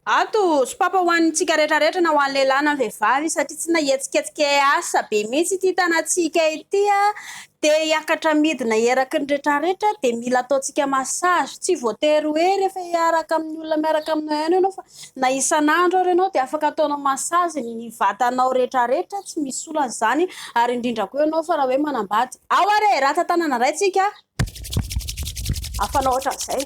Ato, sopapa ho an'ny tsika rehetra rehetra na ho an'ny lehilahy na ny vehivavy satria tsy nahetsiketsika hiasa be mihitsy ity tanantsika ity dia hiakatra midina eraky ny rehetra rehetra dia mila ataontsika massage tsy voatery hoe rehefa hiaraka amin'ny olona miaraka aminao ihany ianao fa na isan'andro ary ianao dia afaka ataonao massage ny vatanao rehetra rehetra tsy misy olana izany ary indrindra koa ianao fa raha hoe manambady ao ary e rata tanana indray tsika Afanao ohatran'izay.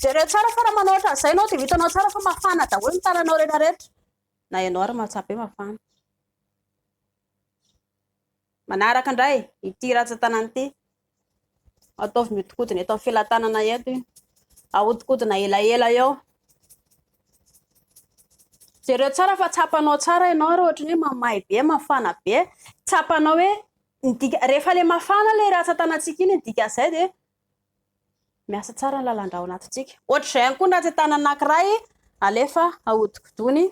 Jereo tsara fa raha manao ohatran'izay ianao dia ho hitanao tsara fa mafana daholo ny tananao rehetrarehetra. Na ianao ary mahatsapa hoe mafana. Manaraka indray, ity ratsan-tanana ity. Ataovy mihodinkodina eto amin'ny felatanana eto. Ahodinkodina elaela eo. Jereo tsara fa tsapanao tsara ianao ary ohatran'ny hoe mamay be, mafana be. Tsapanao hoe Ny dika, rehefa ilay mafana ilay ratsan-tanantsika iny, ny dikan'izay dia miasa tsara ny lalan-drà ao anatintsika. Ohatr'izay ihany koa ny ratsan-tanana anankiray alefa ahodikodiny.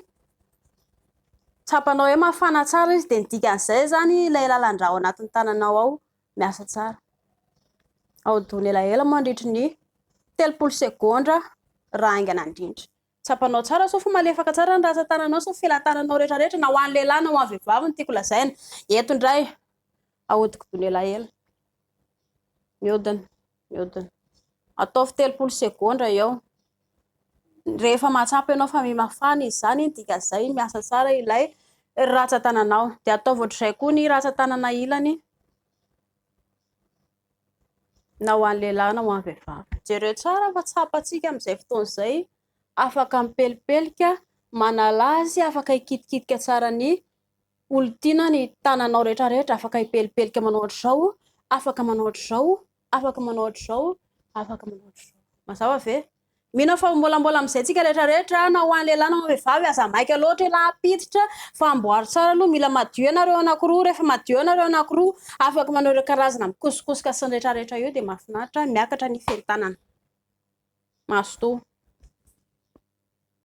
Tsapanao hoe mafana tsara izy, dia ny dikan'izay izany ilay lalan-drà ao anatin'ny tananao ao miasa tsara. Ahodino elaela mandritry ny telopolo segondra raha haingana indrindra. Tsapanao tsara sao fa malefaka tsara ny ratsan-tananao sao felatananao rehetra rehetra na ho an'ny lehilahy na ho an'ny vehivavy no tiako lazaina. Eto indray, ahodikodino elaela. Mihodina, mihodina. Ataovy telopolo segondra eo. Rehefa mahatsapa ianao fa mimafana izy izany, dikan'izay miasa tsara ilay ratsan-tananao. Dia ataovy ohatr'izay koa ny ratsan-tanana ilany. na ho an'ny lehilahy na ho an'ny vehivavy. Jereo tsara fa tsapantsika amin'izay fotoana izay, afaka mipelipelika, manala azy, afaka hikitikitika tsara ny olon-tiana ny tananao rehetra rehetra, afaka hipelipelika manao ohatr'izao, afaka manao ohatr'izao, afaka manao ohatr'izao, afaka manao ohatr'izao. Mazava ve? Mino aho fa ho mbolambola amin'izay antsika rehetra rehetra na ho an'ny lehilahy na ho an'ny vehivavy aza maika loatra ialahy ampiditra fa amboaro tsara aloha mila madio ianareo anakiroa rehefa madio ianareo anakiroa afaka manao ireo karazana mikosokosoka sy ny rehetra rehetra eo dia mahafinaritra miakatra ny fentanana mazotoa